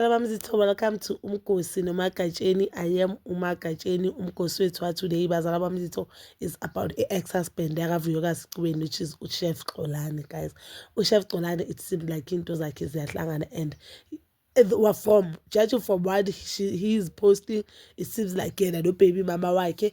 Baba Mzitho, welcome to Umgosi noMagatsheni. I am uMagatsheni, umgosi wethu watoday. Bazala Bamzitho is about a ex-husband yakaVuyokazi Cubeni, which is uChef Xolani, guys. UChef Xolani, it seemed like into zakhe ziyahlangana and were from judging from what she, he is posting it seems like yena nobaby mama wakhe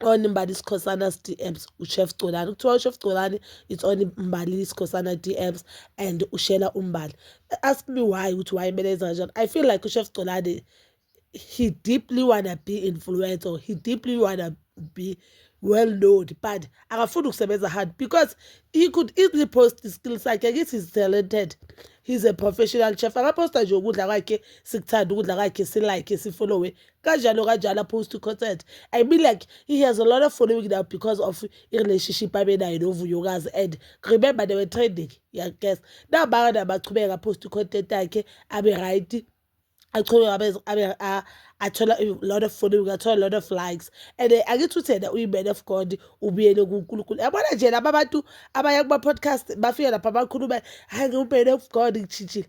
on Mbali Sikhosana's DMs uChef Gcolani kuthiwa uChef Gcolani it's on Mbali Sikhosana DMs and ushela uMbali ask me why ukuthi why kumele enza kanjani I feel like uChef Gcolani he deeply wanna be influenced or he deeply wanna be well known but akafuni ukusebenza hard because he could easily post iskill sakhe kithi is talented he's a professional chef akaposta nje ukudla kwakhe sikuthanda ukudla kwakhe silike sifollowe kanjalo kanjalo opposed to concert i mean like he has a lot of following now because of i-relationship abenayo novuyokazi and remember they were trending yaguess nabaka nabachubeka opposed to content yakhe abe right achubeka athola a lot of following athola a lot of likes and eh, angithi uthena uyi-man of god ubuyele kunkulunkulu yabona nje laba bantu abaya kuma-podcast bafike lapha bakhulume hayi ngiwu-man of god ngishintshile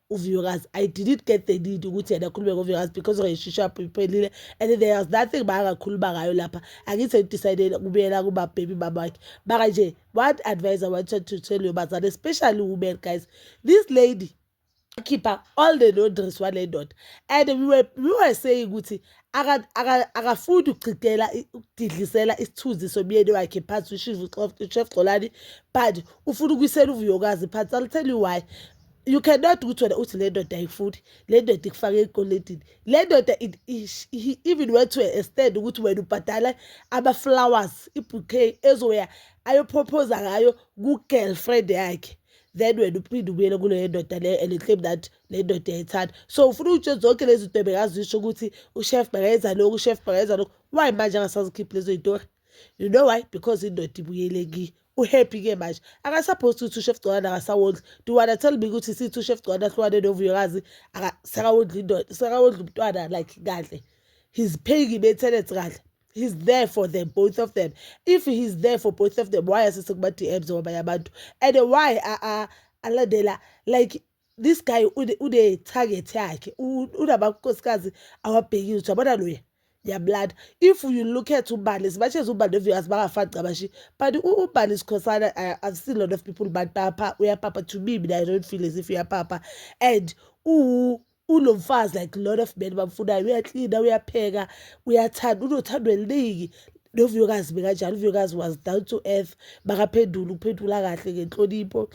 uviyokazi i didn't get the need ukuthi yena akhulume ngoviyokazi because relationship iphelile and there was nothing bangakhuluma ngayo lapha angithi sengidecidele kubuyela kubabhebi babakhe maka nje what advice i wanted to tell you bazane especially women guys this lady khipha all the laundries wale ndoda and we were, we were saying ukuthi akafundi ukuchithela ukudidlisela isithunzi somyeni wakhe phansi ushivu chef xolani but ufuna ukuyisela uvuyokazi phansi i'll tell you why you cannot ukuthi wena uthi le ndoda ayifuni le ndoda ikufake ekolendini le ndoda he even went to a stand ukuthi wena ubhadala ama-flowers ibouquet ezoya ayoprophoza ngayo ku-girlfriend yakhe then wena uphinde ubuyele kuleyo ndoda leyo and claim that le ndoda yayithanda so ufuna utshe zonke lezi zinto bekazisho ukuthi ushef bakayenza lokhu ushef bakayenza lokhu why manje angasazikhiphi lezo yitori you know why because indoda ibuyele ki uhappy ke manje akasupposed to two chef gcokana akasawondli do wanna tell me ukuthi si two chef gcokana hlukane novuyokazi akasakawondli indoda sakawondli umntwana like kahle he's paying i-maintenance kahle he's there for them both of them if he's there for both of them why asese kuma-dms wabanye abantu and why alandela like this guy une-target yakhe unamakosikazi awabhekile ukuthi yabona loya ngiyamlanda if you look at ubani as much as ubani of you as bangafani cabashi but ubani sikhosana uh, i've seen a lot of people but papa uyapapa to me mina i don't feel as if uyapapa and uwu ulo mfazi like lot of men bamfunayo uyaklina uyapheka uyathanda unothando eliningi novuyokazi bekanjalo uvuyokazi was down to earth makaphendula ukuphendula kahle ngenhlonipho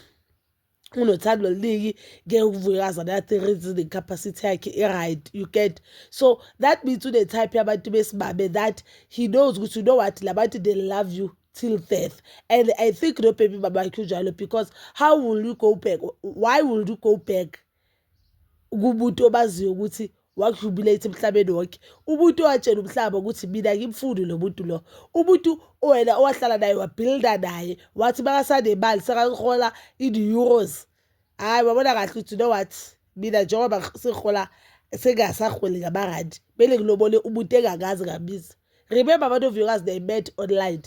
unothando oluningi ngeke uvuke kazana ya-three reasoning capacity yakhe i-right you get so that means une-type yabantu besimame that he knows ukuthi you know what la bantu they love you till death and i think no baby mama wakhe unjalo because how will you go back why will you go back kumuntu obaziyo ukuthi wakujubilate emhlabeni wonke umuntu owatshela umhlaba ukuthi mina ngimfuni lo muntu lo umuntu wena owahlala naye wabhilda naye wathi makasanemali sekahola in-euros hhayi wabona kahle ukuthi you know what mina njengoba sengihola sengingasaholi ngamarandi kumele ngilobole umuntu engakaze ngabiza remember abantu viewers they met online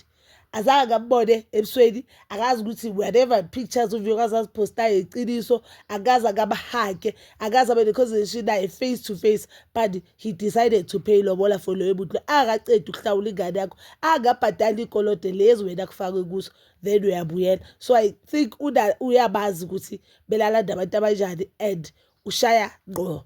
azange ngambone ebusweni akazi ukuthi whatever pictures uviewers aziphostayo iqiniso akaze akamhage akaze abe ne-conversation naye face to face but he decided to pay lobola for loyo muntu lo angakacedi ukuhlawula ingane yakho angabhadali ikolode lezi wena kufakwe kuso then uyabuyela so i think uyabazi ukuthi belalanda abantu abanjani and ushaya ngqo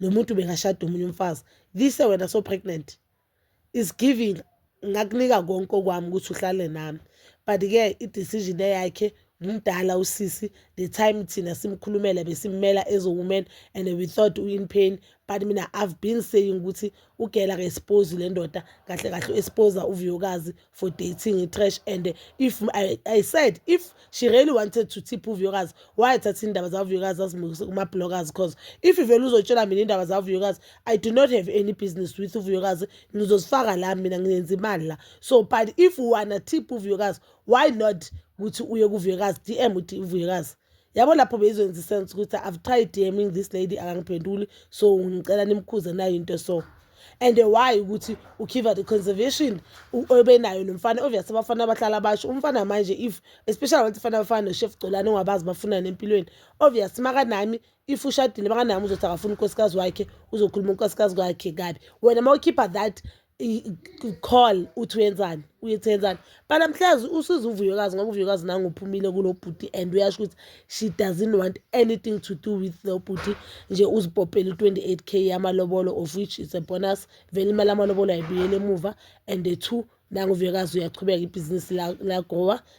lo muntu bengashada omunye umfazi lise wena so pregnant is giving ngakunika konke okwami ukuthi uhlale nami but-ke i-decision eyakhe ngumdala usisi the time thina simkhulumela besimmela as a woman and we thought u-in pain but mina i've been saying ukuthi ugela ka-expose le ndoda kahle kahle u-exposa uvuyokazi for dating itrash and if I, I said if she really wanted to tip uvuyokazi wayethatha indaba zavuyokazi azimukise kuma-bloggers cause if ivele uzotshela mina indaba zavuyokazi i do not have any business with uvuyokazi ngizozifaka la mina ngenza imali la so but if wanna tip uvuyokazi why not ukuthi uye kuvuyokazi dm uvuyokazi yabo lapho beyizokwenza isense ukuthi i've tried dming this lady akangiphenduli so ngicela nimkhuze nayo into so and why ukuthi ukhiva the conservation obenayo nomfana obvious abafana abahlala basho umfana manje if especially abantu fana abafana noshef gcolane ongabazi bafunani empilweni obvious makanami if ushadile makanami uzothi akafuna unkosikazi wakhe uzokhuluma unkosikazi kwakhe kabi wena mawukhipha that call uthi uyenzani uyethi yenzani but namhlanje usiza uvuyokazi ngoba uvuyokazi nangu uphumile kulo bhuti and uyasho ukuthi she doesn't want anything to do with lo bhuti nje uzipopele u-28 k yamalobolo of which is a bonus vele imali amalobolo ayibuyele emuva and the two nangu uvuyokazi uyachubeka ibhizinisi lagowa